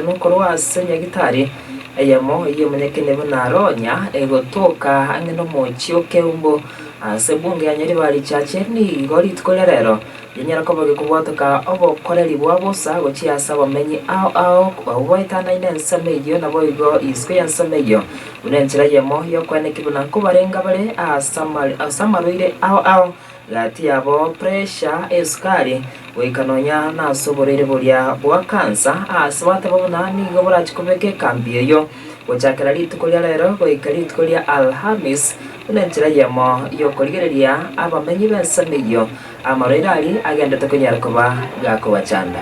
Ime korwa ase nyagitari eyemo y'omonyakeene buna Aronya, egotoka ang'e nomochie o Keumbu, ase ebunge ya Nyaribari Church, nigo rituko ria rero rinyare koba gekobwatoka obokoreri bwa bosa gochia ase abamenyi ao ao abwo baetanaine ensemo eyio naboigo isiko y'ensemo eyio, buna enchera eyemo y'okoeneki buna nkobarenga bare ase amarwaire ao ao. Gati yabo puresha esukari, goika nonya nas'oborwaire boria bwa kansa, aase bateba buna nigo borache kobeka ekambi eyio, gochakera rituko ria reero goika rituko ria Alhamis, buna enchera eyemo y'okorigereria abamenyi b'ensemo eyio amarwaire aria agenderete konyara koba gakobachanda.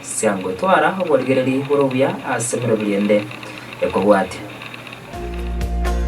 Siangotwara oborigereri bore obuya ase emeroberio ende ekobwatia.